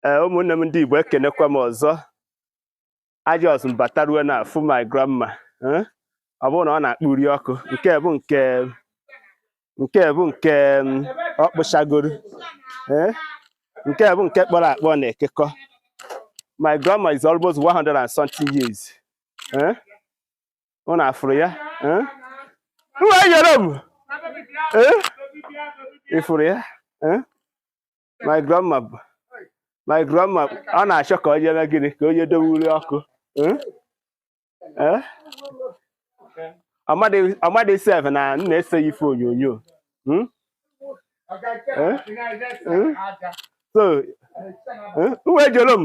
ee ụmụnne m ndị Igbo ekenekwa m ọzọ a jọs m batarue na-afụ my grandma eh? ọ bụrụ na ọ na-akpụ uri ọkụ nke bụ nke nke bụ nke mm, ọ kpụchagoro eh? nke bụ nke kpọrọ akpọ na-ekekọ my grandma is almost 100 and something years eh? ụnụ afụrụ ya eh? Uwe yọrọ m eh? ị fụrụ ya eh? my grandma bụ- my grandma ọ na-achọ ka onye mee gịnị ka onye dowe uri ọkụ Eh? Eh? Ọ madị- ọ madị sef na m na-ese ya ife onyonyo Hmm? Eh? Eh? so eh, uwe jolo m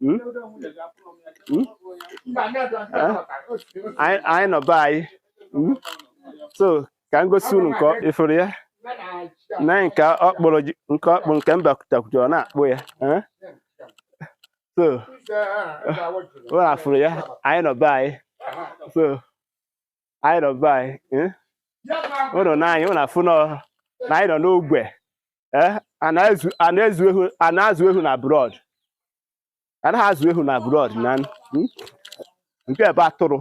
Hmm? Hmm? anyị nọ be anyị hmm? so ka m gosi unu nke ị fụrụ ya na nke ọ kpụrụ nke ọ kpụrụ nke m bakutakwuta ọ na-akpụ ya eh? so ụnụ afụrụ ya anyị nọ be anyị so anyị nọ be anyị eh? ụnụ na anyị ụnụ afụnọ na anyị nọ n'ogbe eh? a na-azụ ehu n'abroad anaghị azụ ehu n'abroad na hmm? nke ebe atụrụ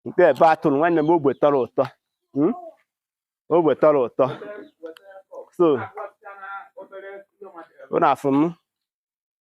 nke ebe atụrụ nwanne m ogbe tọrọ ụtọ hmm? ogbe tọrọ ụtọ so ụnụ afụ m